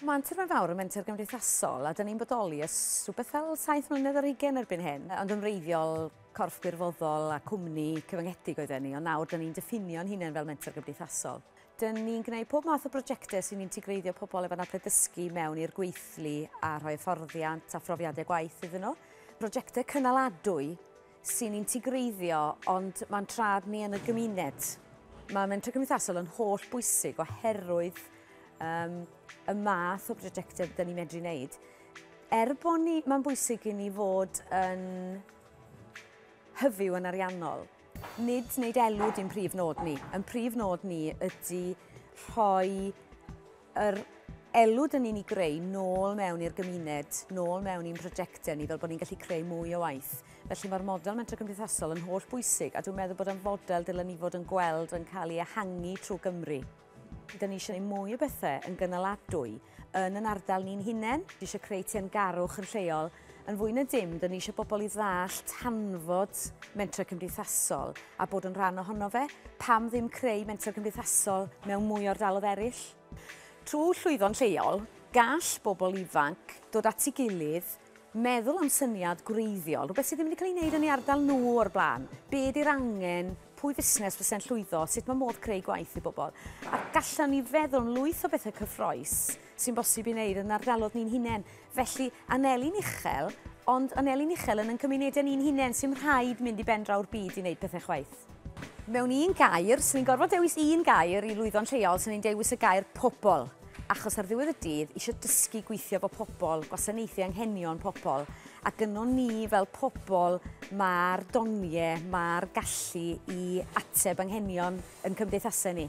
Mae'n terfyn fawr y menter gymdeithasol a dyn ni'n bodoli ys rhywbeth fel 7 mlynedd ar hugen erbyn hyn, ond yn wreiddiol corff gwirfoddol a cwmni cyfyngedig oedden ni, ond nawr dyn ni'n diffinio'n hunain fel menter gymdeithasol. Dyn ni'n gwneud pob math o brosiectau sy'n integreiddio pobl efo anabledd dysgu mewn i'r gweithlu a rhoi hyfforddiant a phrofiadau gwaith iddyn nhw. Prosiectau cynaladwy sy'n integreiddio, ond mae'n trad ni yn y gymuned. Mae mentor cymdeithasol yn holl bwysig oherwydd um, y math o brosiectau dyn ni'n medru wneud. Er bod ni, mae'n bwysig i ni fod yn hyfyw yn ariannol, nid wneud elw di'n prif nod ni. Yn prif nod ni ydy rhoi yr elw dyn ni'n ei greu nôl mewn i'r gymuned, nôl mewn i'n prosiectau ni, fel bod ni'n gallu creu mwy o waith. Felly mae'r model mentro cymdeithasol yn holl bwysig, a dwi'n meddwl bod o'n fodel dylen ni fod yn gweld yn cael ei ehangu trwy Gymru. Dyn ni eisiau ei mwy o bethau yn gynaladwy yn yn ardal ni'n hunain, dwi eisiau creu tîm garwch yn lleol, Yn fwy na dim, dyn ni eisiau bobl i ddall tanfod mentrau cymdeithasol a bod yn rhan ohono fe. Pam ddim creu mentrau cymdeithasol mewn mwy o'r dalodd eraill? Trwy llwyddo'n lleol, gall bobl ifanc dod at ei gilydd, meddwl am syniad gwreiddiol, rhywbeth sydd ddim wedi cael ei wneud yn ei ardal nhw o'r blaen, be ydy'r angen, pwy fusnes fyse'n llwyddo, sut mae modd creu gwaith i bobl. A gallwn ni feddwl am lwyth o bethau cyffroes sy'n bosib i wneud yn ardalodd ni'n hunain. Felly, aneli'n uchel, ond aneli'n uchel yn yn cymunedau ni'n hunain, sy'm rhaid mynd i ben-draw'r byd i wneud pethau chwaith. Mewn un gair, 'swn i'n gorfod dewis un gair i lwyddo'n lleol, 'swn i'n dewis y gair 'pobol', achos ar ddiwedd y dydd, eisiau dysgu gweithio efo pobol, gwasanaethu anghenion pobol, a gynno ni fel pobol mae'r doniau, mae'r gallu i ateb anghenion yn cymdeithasau ni.